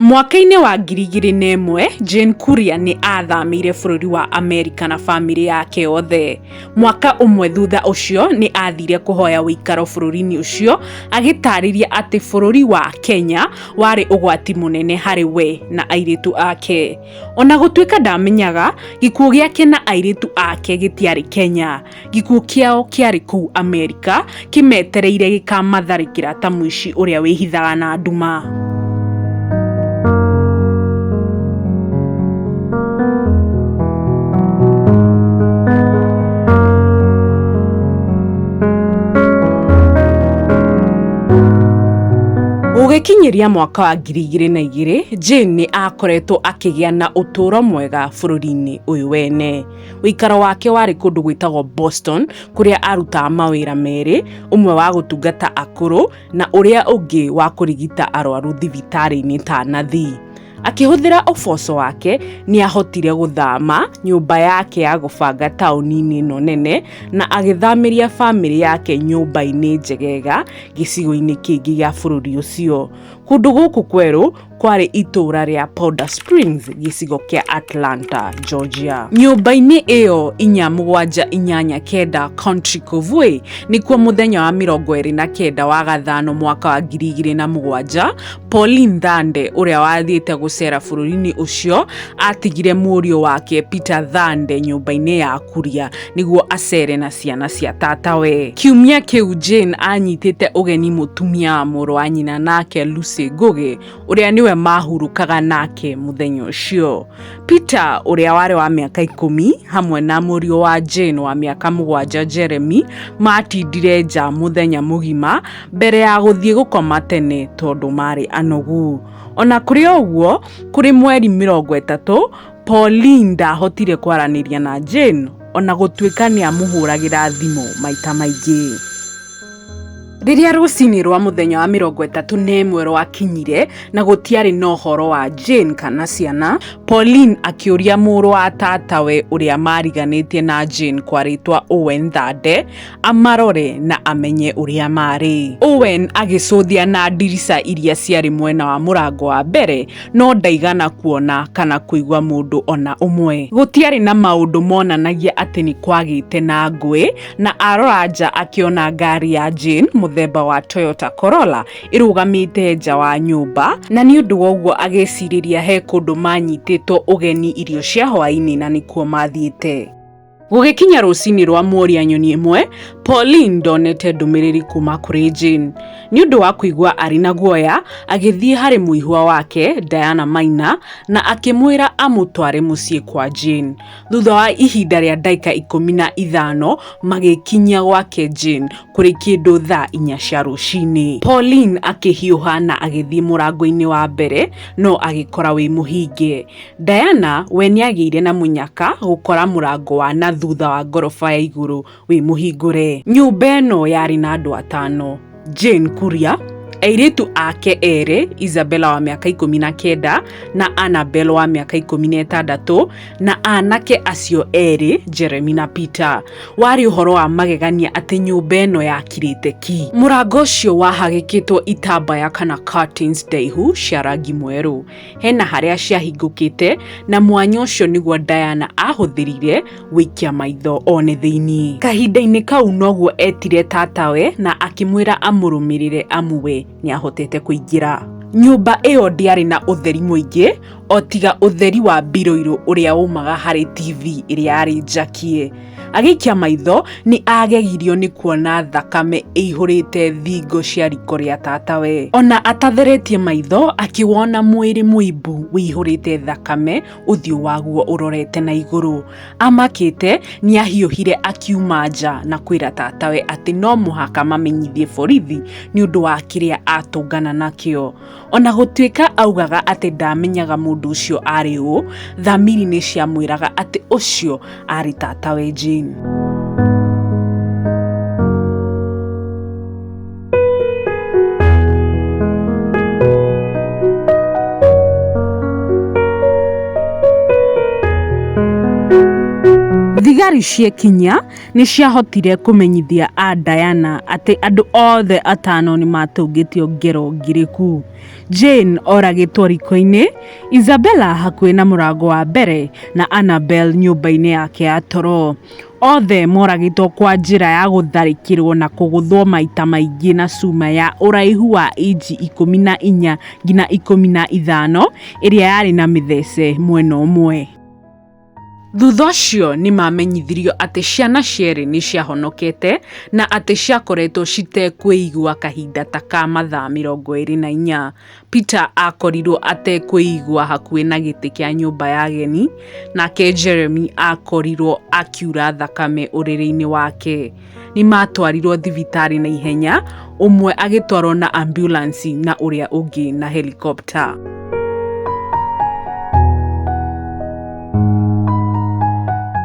Mwaka-inĩ wa ngiri igĩrĩ na ĩmwe, Jane Kuria nĩ aathamĩire bũrũri wa Amerika na famĩlĩ yake yothe. Mwaka ũmwe thutha ũcio, nĩ aathire kũhoya ũikaro bũrũri-inĩ ũcio, agĩtaarĩria atĩ bũrũri wa Kenya warĩ ũgwati mũnene harĩ we na airĩtu ake. O na gũtuĩka ndaamenyaga, gĩkuũ gĩake na airĩtu ake gĩtiarĩ Kenya. gikuũ kĩao kĩarĩ kũu amerika kĩmetereire gĩkamatharĩkĩra ta mũici ũrĩa wĩhithaga na nduma Gũgĩkinyĩria mwaka wa ngiri igĩrĩ na igĩrĩ, Jane nĩ aakoretwo akĩgĩa na ũtũũro mwega bũrũri-inĩ ũyũ wene. Ũikaro wake warĩ kũndũ gwĩtagwo Boston, kũrĩa aarutaga mawĩra merĩ, ũmwe wa gũtungata akũrũ na ũrĩa ũngĩ wa kũrigita arwaru thibitarĩ-inĩ ta nathi. Akĩhũthĩra ũboco wake, nĩ aahotire gũthama nyũmba yake ya gũbanga taũni-inĩ ĩno nene na agĩthamĩria famĩlĩ yake nyũmba-inĩ njegega gĩcigo-inĩ kĩngĩ gĩa bũrũri ũcio. Kũndũ gũkũ kwerũ kwarĩ itũũra rĩa Powder Springs gĩcigo kĩa Atlanta, Georgia. Nyũmba-inĩ ĩyo inya mũgwanja inyanya kenda Country Cove nĩkuo mũthenya wa mĩrongo ĩrĩ na kenda wa gathano mwaka wa ngiri igĩrĩ na mũgwanja Pauline Thande ũrĩa wathiĩte gũcera bũrũri-inĩ ũcio atigire mũriũ wake Peter Thande nyũmba-inĩ ya Kuria nĩguo acere na ciana cia tata we kiumia kĩu jane anyitĩte ũgeni mũtumia wa mũrũ wa nyina nake lucy ngũgĩ ũrĩa nĩwe mahurũkaga nake mũthenya ũcio peter ũrĩa warĩ wa mĩaka ikũmi hamwe na mũriũ wa jane wa mĩaka mũgwanja jeremy matindire nja mũthenya mũgima mbere ya gũthiĩ gũkoma tene tondũ marĩ anogu ona kũrĩ o ũguo kũrĩ mweri mĩrongo ĩtatũ Pauline ndaahotire kwaranĩria na Jane o na gũtuĩka nĩ aamũhũragĩra thimũ maita maingĩ. Rĩrĩa rũcinĩ rwa mũthenya wa mĩrongo ĩtatũ na ĩmwe rwakinyire na gũtiarĩ na ũhoro wa Jane kana ciana, Pauline akĩũria mũrũ wa tatawe ũrĩa maariganĩtie na Jane kwa rĩtwa Owen Thande, amarore na amenye ũrĩa maarĩ. Owen agĩcũthia na ndirica iria ciarĩ mwena wa mũrango wa mbere, no ndaigana kuona kana kũigua mũndũ ona ũmwe. Gũtiarĩ na maũndũ monanagia atĩ nĩ kwagĩte na ngũĩ, na arora nja akĩona ngari ya Jane mũthemba wa Toyota Corolla ĩrũgamĩte nja wa nyũmba, na nĩ ũndũ wa ũguo agĩcirĩria he kũndũ manyitĩtwo ũgeni irio cia hwaĩ-inĩ na nĩkuo mathiĩte. Gũgĩkinya rũcinĩ rwa mworia nyoni ĩmwe, Pauline ndonete ndũmĩrĩri kuma kũrĩ Jane. Nĩ ũndũ wa kũigua arĩ na guoya, agĩthiĩ harĩ mũihwa wake, Diana Maina, na akĩmwĩra amũtware mũciĩ kwa Jane. Thutha wa ihinda rĩa ndagĩka ikũmi na ithano, magĩkinyia gwake Jane kũrĩ kĩndũ thaa inya cia rũcinĩ. Pauline akĩhiũha na agĩthiĩ mũrango-inĩ wa mbere, no agĩkora wĩ mũhinge. Diana we nĩagĩire na mũnyaka gũkora mũrango wa na thutha wa ngoroba ya igũrũ wĩ mũhingũre. Nyũmba ĩno yarĩ na andũ atano, Jane Kuria, airĩtu ake erĩ Isabella wa mĩaka ikũmi na kenda na Annabel wa mĩaka ikũmi na ĩtandatũ na anake acio erĩ Jeremy na Peter. Warĩ ũhoro wa magegania atĩ nyũmba ĩno yakirĩte ki. Mũrango ũcio wahagĩkĩtwo itambaya kana curtains ndaihu cia rangi mwerũ. Hena harĩa ciahingũkĩte na mwanya ũcio nĩguo Diana ahũthĩrire gũikia maitho one thĩinĩ. Kahinda-inĩ kau noguo etire tatawe na akĩmwĩra amũrũmĩrĩre amu we nĩahotete kũingĩra. Nyũmba ĩyo ndĩarĩ na ũtheri mũingĩ o tiga ũtheri wa biroirũ ũrĩa waumaga harĩ TV ĩrĩa yarĩ njakie. Agĩikia maitho nĩ agegirio nĩ kuona thakame ĩihũrĩte thingo cia riko rĩa tatawe. Ona atatheretie maitho akĩwona mwĩrĩ mũimbu wĩihũrĩte thakame ũthiũ waguo ũrorete na igũrũ. Amakĩte nĩ ahiũhire akiuma nja na kwĩra tatawe atĩ no mũhaka mamenyithie borithi nĩ ũndũ wa kĩrĩa atũngana nakĩo. O na gũtuĩka augaga atĩ ndaamenyaga mũndũ ũcio aarĩ ũ, thamiri nĩ ciamwĩraga atĩ ũcio aarĩ tatawe Jane. Thigari ciekinyia Nĩ ciahotire kũmenyithia a Diana atĩ andũ othe atano nĩ maatũngĩtio ngero ngirĩku. Jane oragĩtwo riko-inĩ, Isabella hakuhĩ na mũrango wa mbere, na Annabel nyũmba-inĩ yake ya toro. Othe moragĩtwo kwa njĩra ya gũtharĩkĩrũo na kũgũthwo maita maingĩ na cuma ya ũraihu wa inji ikũmi na inya nginya ikũmi na ithano ĩrĩa yarĩ na mĩthece mwena ũmwe. Thutha ũcio nĩ maamenyithirio atĩ ciana cierĩ nĩ ciahonokete na atĩ ciakoretwo citekwĩigua kahinda ta ka mathaa mĩrongo ĩrĩ na inya. Peter aakorirũo atekwĩigua hakuhĩ na gĩtĩ kĩa nyũmba ya ageni, nake Jeremy aakorirũo akiura thakame ũrĩrĩ-inĩ wake. nĩ matwarirwo thibitarĩ na ihenya ũmwe agĩtwarwo na ambulansi na ũrĩa ũngĩ na helikopta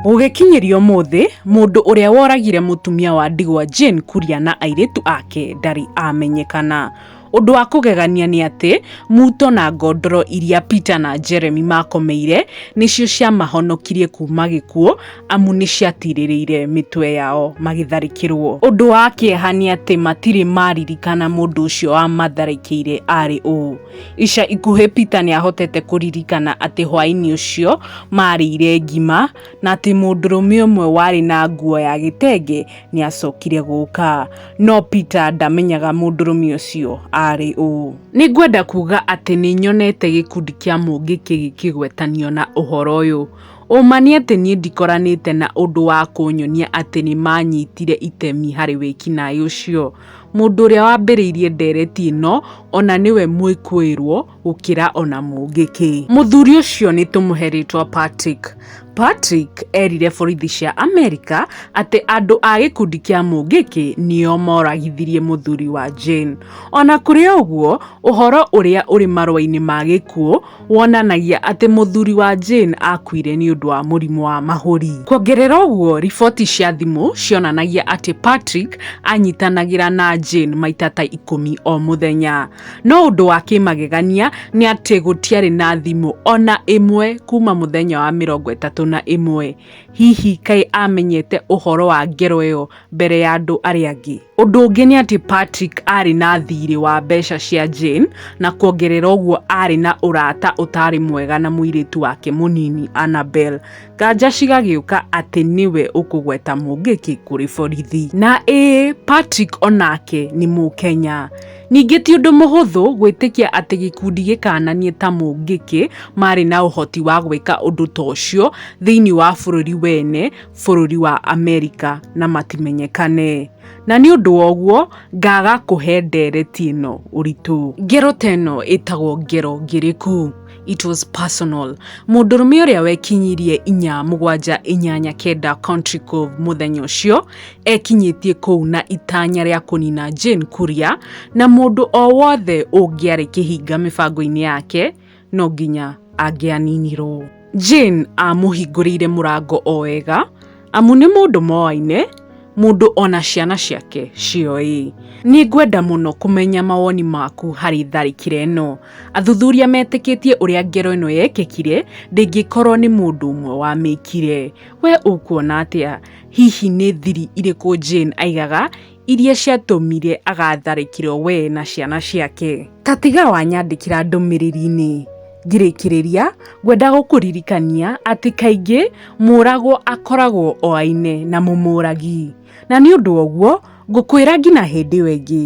gũgĩkinyĩria ũmũthĩ mũndũ ũrĩa woragire mũtumia wa ndigwa Jane Kuria na airĩtu ake ndarĩ amenyekana Ũndũ wa kũgegania nĩ atĩ, muto na ngondoro iria Peter na Jeremy maakomeire nĩcio ciamahonokirie kuuma gĩkuũ amu nĩ ciatirĩrĩire mĩtwe yao magĩtharĩkĩrũo. Ũndũ wa kĩeha nĩ atĩ matirĩ maririkana mũndũ ũcio wamatharĩkĩire aarĩ ũũ. Ica ikuhĩ Peter nĩ ahotete kũririkana atĩ hwaĩ-inĩ ũcio maarĩire ngima na atĩ mũndũrũme ũmwe warĩ na nguo ya gĩtenge nĩ acokire gũka no peter ndamenyaga mũndũrũme ũcio arĩ ũ nĩ ngwenda kuga atĩ nĩ nyonete gĩkundi kĩa mũngĩ kĩgĩkĩgwetanio na ũhoro ũyũ ũma nĩ atĩ niĩ ndikoranĩte na ũndũ wa kũnyonia atĩ nĩ manyitire itemi harĩ wĩkinaĩ ũcio mũndũ ũrĩa wambĩrĩirie ndereti ĩno ona nĩwe mũĩkũĩrwo gũkĩra ona mũngĩ kĩ mũthuri ũcio nĩ tũmũhe rĩtwa patrick patrick erire borithi cia amerika atĩ andũ a gĩkundi kĩa mũngĩkĩ nĩo moragithirie mũthuri wa jane ona kũrĩ ũguo ũhoro ũrĩa ũrĩ marũa-inĩ ma gĩkuũ wonanagia atĩ mũthuri wa jane akuire nĩ ũndũ wa mũrimũ wa mahũri kuongerera ũguo riboti cia thimũ cionanagia atĩ patrick anyitanagĩra na jane maita ta ikũmi o mũthenya No ũndũ wa kĩmagegania nĩ atĩ gũtiarĩ na thimũ ona ĩmwe kuma mũthenya wa mĩrongo ĩtatũ na ĩmwe. Hihi kaĩ amenyete ũhoro wa ngero ĩyo mbere ya andũ arĩa angĩ? Ũndũ ũngĩ nĩ atĩ Patrick aarĩ na thiirĩ wa mbeca cia Jane, na kuongerera ũguo aarĩ na ũrata ũtaarĩ mwega na mũirĩtu wake mũnini Annabel. Nganja cigagĩũka atĩ nĩwe ũkũgweta Mũngĩki kũrĩ borithi. Na ĩĩ Patrick onake nĩ Mũkenya. Ningĩ ti ũndũ mũhũthũ gwĩtĩkia atĩ gĩkundi gĩkananie ta mũngĩkĩ maarĩ na ũhoti wa gwĩka ũndũ ta ũcio thĩinĩ wa bũrũri wene, bũrũri wa Amerika, na matimenyekane. Na nĩ ũndũ wa ũguo ngaaga kũhe ndeereti ĩno ũritũ. Ngero ta ĩno ĩtagwo ngero ngĩrĩku. it was personal mũndũrũme ũrĩa wekinyirie inya mũgwanja inyanya kenda country cove mũthenya ũcio ekinyĩtie kũu na itanya rĩa kũnina jane kuria na mũndũ o wothe ũngĩarĩ kĩhinga mĩbango-inĩ yake no nginya angĩaninirwo jane amũhingũrĩire mũrango o wega Amu nĩ mũndũ moaine, mũndũ o na ciana ciake cioĩ. Nĩ ngwenda mũno kũmenya mawoni maku harĩ tharĩkĩra ĩno. Athuthuria metĩkĩtie ũrĩa ngero ĩno yekĩkire ndĩngĩkorwo nĩ mũndũ ũmwe wamĩkire. Wee ũkuona atĩa? Hihi nĩ thiri irĩkũ Jane aigaga iria ciatũmire agatharĩkĩrwo we na ciana ciake. Ta tiga wanyandĩkĩra ndũmĩrĩri-inĩ ngĩrĩkĩrĩria, ngwenda gũkũririkania atĩ kaingĩ mũragwo akoragwo oaine na mũmũragi, na nĩ ũndũ woguo ngũkwĩra nginya hĩndĩ ĩyo ĩngĩ.